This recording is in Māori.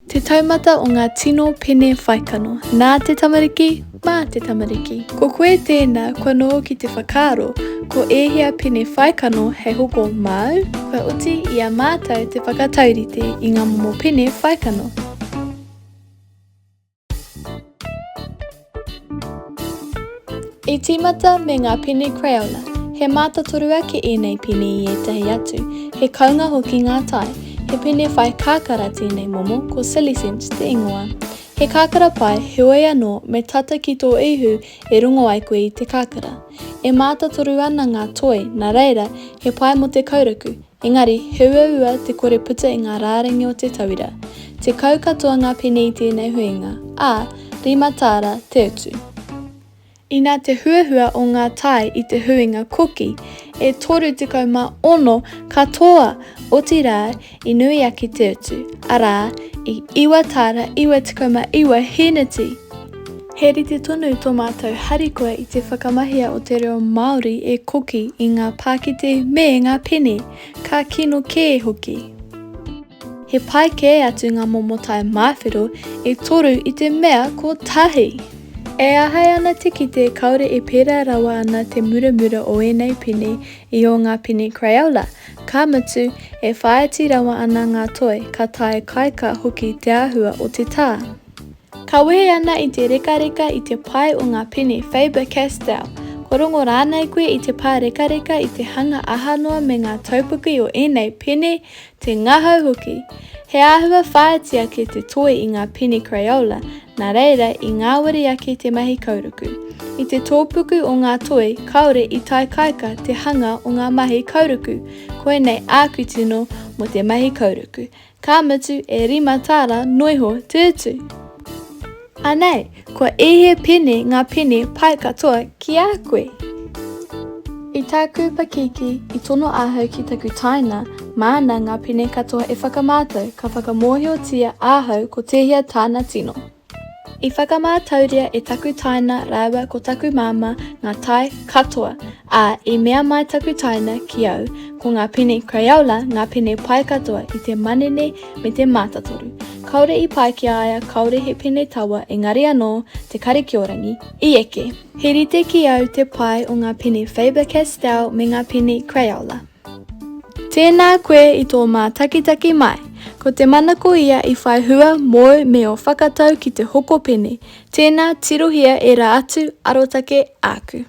Te taumata o ngā tino pene whaikano, nā te tamariki, mā te tamariki. Ko koe tēnā, kua noho ki te whakaaro, ko ēhea pene whaikano hei hoko māu? Kua oti i a mātou te whakataurite i ngā momo pene whaikano. I tīmata me ngā pene Crayola. He mātotoru ake ēnei pene i ētahi atu, he kounga hoki ngā tae. He pene whai kakara tēnei momo, ko Silicent te ingoa. He kakara pai, heoi anō, me tata ki tō ihu e rongo ai koe i te kakara. E mātotoru ana ngā toi, nā reira, he pai mō te kauraku, Engari, he uaua te kore puta i ngā rārangi o te tauira. Tekau katoa ngā pene i tēnei huinga, ā, rima tāra te utu. Inā te huahua o ngā tae i te huinga koki, e 36 katoa, otirā, i nui ake te utu, arā, i iwa tāra 99 hīneti. He rite tonu tō mātou harikoa i te whakamahia o te reo Māori e koki i ngā pākete me ngā pene, ka kino kē hoki. He pai kē atu ngā momo tae māwhero e toru i te mea kotahi! E āhei ana te kite kāore e pērā rawa ana te muramura o ēnei pene i ō ngā pene Crayola, ka mutu, e whāiti rawa ana ngā toi, ka tae kaeka hoki te āhua o te tā. Ka wehe ana i te rekareka i te pae o ngā pene Faber-Castell, kua rongo rānei koe i te pārekareka i te hanga aha noa me ngā taupuki o ēnei pene, te ngahau hoki. He āhua whāiti ake te toi i ngā pene Crayola, nā reira i ngāwari ake te mahi kauruku. I te tōpuku o ngā toi kāore i taikaika te hanga o ngā mahi kauruku, koinei āku tino mō te mahi kauruku, Ka mutu e rima tāra noiho te utu. Anei, kua ehe pene ngā pene pai katoa ki a koe. I tāku pakiki i tono ahau ki taku tāina māna ngā pene katoa e whakamātau ka whakamōhiotia ahau ko tēhea tāna tino. I whakamātauria e taku tāina rāua ko taku māmā ngā tae katoa, ā, i mea mai taku tāina ki au, ko ngā pene Crayola ngā pene pai katoa i te manene me te mātatoru. Kāore i pai ki a ia, kāore he pene tawa engari anō te karikiorangi i eke. He rite ki au te pai o ngā pene Faber-Castell me ngā pene Crayola. Tēnā koe i tō mātakitaki mai. Ko te manako ia i whai hua mōu me ō whakatau ki te hokopene. Tēnā, tirohia ērā atu arotake āku.